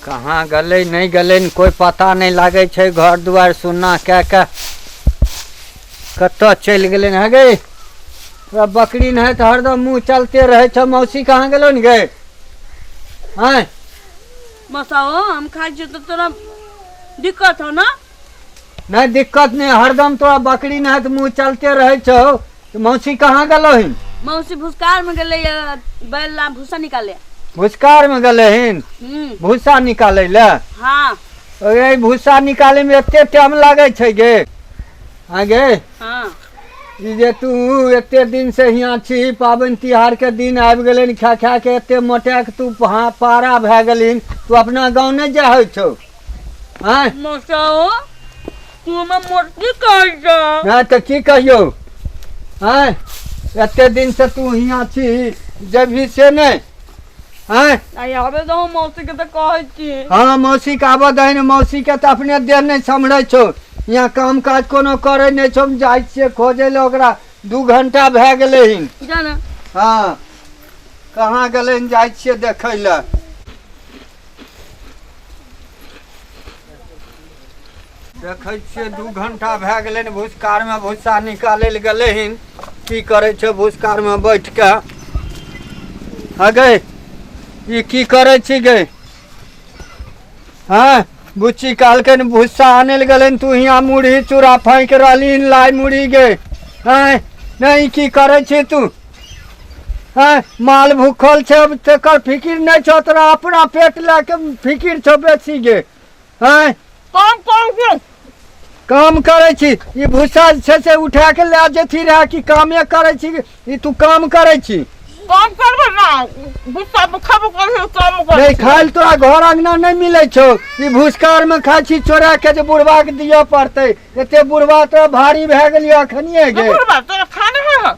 कहाँ गलै नहि गलै कोइ पता नहि लागै छै घर दुआरि सुन्ना कए कऽ कतऽ चलि गेलै हँ गै तोरा बकरी नहि तऽ हरदम मुँह चलते रहै छौ मौसी कहाँ गेलो ने गै आँय मसाओ हम खाइ छियै तऽ तोरा दिक्कत हो ने नहीं दिक्कत नहीं हरदम तोरा बकरी नहीं तो मुँह चलते रहे छो तो मौसी कहाँ गलो हिन मौसी भूसकार में गेले या, बैल ला भूसा निकाले भूसकार में गले हिन हम्म भूसा निकाले ले हाँ अरे भूसा निकाले में एते टाइम लागे छै गे हाँ गे हाँ ई जे तू एते दिन से हियाँ छी पाबनि तिहार के दिन आबि गेलै ने खा खा के एते मोटा के तू पहा- पारा भए गेलहिन तू अपना गाँव नहि जाहै छौ आँय मसाओ तू हमरा मोटकी कहै छ हँ तऽ की कहियौ आँय एते दिन से तू हियाँ छी जबही से नहि आँय आइ आबे दहो मौसी के तऽ कहै छी हँ मौसी के आबऽ दही ने मौसी के तऽ अपने देह नहि सम्हरै छौ यहाँ काम काज कोनो करै नहि छौ हम जाइ छियै खोजै लए ओकरा दू घंटा भए गेलै हन जाना हँ कहाँ गेलै हन जाइ छियै देखै लए देखै छियै दू घंटा भए गेलै ने भूसकारमे भूसा निकालै लए गेलै हन की करै छै भूसकारमे बैठ कऽ हगे ई की करै छी गे हँ बुच्ची कहलकै ने भूसा आनै लए गेलै तू हियाँ मुरही चूड़ा फाँकि रहली हन लाइ मुरही गे हँ नहि ई की करै छी तू हैं माल भूखल छै अब तेकर फिकिर नै छौ तोरा अपना पेट लए के फिकिर छौ बेसी गे हैं काम काम के काम करै छी ई भूसा जे छै से उठा के लए जेथी रहए कि कामे करै छी ई तू काम करै छी काम करबे ना भूसा पर खबो करे काम करे नहि खाइल तोरा घर अंगना नहि मिलै छौ ई भूसकार मे खाइ छी चोरा के जे बुढ़वा के दिअ पड़तै एते बुढ़वा तोरा भारी भए गेलियै अखनिए गे बुढ़वा तोरा खाना है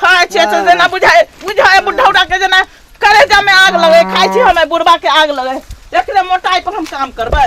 खाय छियै से जेना बुझाय बुझाय बुढ़ौरा के जेना करेजा में आग लगे खाय छी हमें बुढ़वा के आग लगे एकरे मोटाई पर हम काम करबै